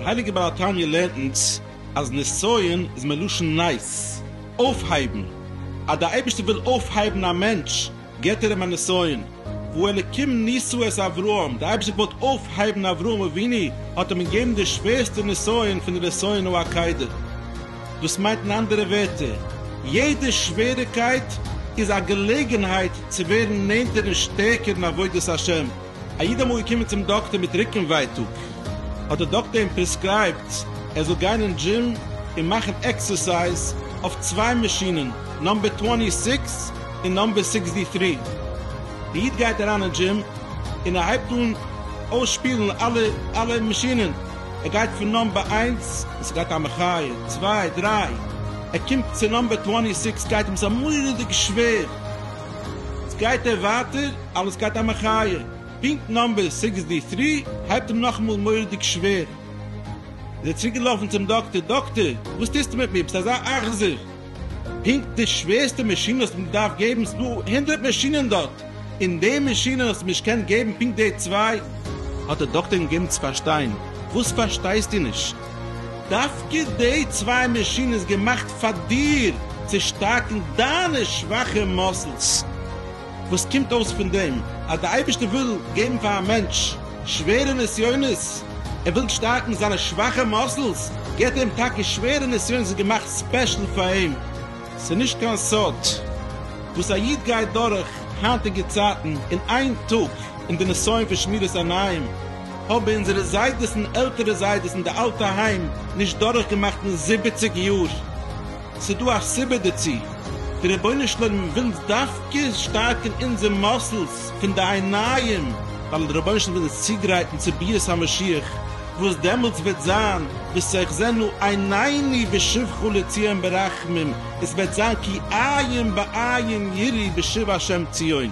דער הייליגער בעל התניא לערנט אונז אז נסיון איז מלשון נס, אויפהייבן, אז דער אייבערשטער וויל אויפהייבן א מענטש, געבט ער אים א נסיון, וואו אלקים ניסו את אברהם, די אייבערשטער געוואלט אויפהייבן אברהם אבינו, האט אים געגעבן די שווערסטע נסיון פון די נסיונו הקודם. דאס מיינט אין אנדערע ווערטער, יעדע שוועריקייט איז א געלעגנהייט צו ווערן נענטער און שטערקער אין עבודת השם. א איד אמאל געקומען צום דאקטער מיט רוקן ווייטאג, האט דער דאקטער אים פרעסקרייבט ער זאל גיין אין דזשים און מאכן עקסערסייז אויף צוויי מאשינען, נאמבער טווענטי סיקס און נאמבער סיקסטי טרי. דער איד גייט אריין אין דזשים און ער הייבט אן אויסשפילן אלע אלע מאשינען, ער גייט פון נאמבער איינס, און ס'גייט א מחיה, צוויי, דריי, ער קומט צו נאמבער טווענטי סיקס, גייט אים עס א מורא'דיג שווער, יעצט גייט ער ווייטער, אלעס גייט א מחיה. פונקט נאמבער סיקס די טרי הייבט אים נאכאמאל מורא'דיג שווער. איז ער צוריקגעלאפן צום דאקטער, דאקטער, וואס טוסטו מיט מיר, ביסט אזא אכזר. פונקט די שווערסטע מאשין האסט מיר געדארפט געבן, ס'דא הונדערט מאשינען דארט, און די מאשין האסט מיר נישט געקענט געבן פונקט די צוויי. האט דער דאקטער אים געגעבן צו פארשטיין, וואס פארשטייסטו נישט? דווקא די צוויי מאשין איז געמאכט פאר דיר, צו שטארקן דיינע שוואכע מאסלס. וואס קומט אויס פון דעם? אז דער אייבערשטער וויל געבן פאר א מענטש שווערע נסיונות, ער וויל שטארקן זיינע שוואכע מאסלס, געבט ער אים טאקע שווערע נסיונות וואס איז געמאכט ספעשל פאר אים. ס'איז נישט קיין סוד וואס א איד גייט דורך היינטיגע צייטן, און איין טאג אין די נסיון פון שמירת עניים האבן אונזערע זיידעס און עלטערע זיידעס אין די אלטע היים נישט דורכגעמאכט אין זיבעציג יאר. ס'דא א סיבה דערצו, דער רבונו של עולם וויל אונז דווקא שטארקן אונזער מאסלס פון די עיניים, ווייל דער רבונו של עולם וויל אונז צוגרייטן צו ביאת המשיח, וואס דעמאלטס וועט זיין ותחזינה עינינו ושובך לציון ברחמים, עס וועט זיין כעין בעין יראי בשוב ה' ציון.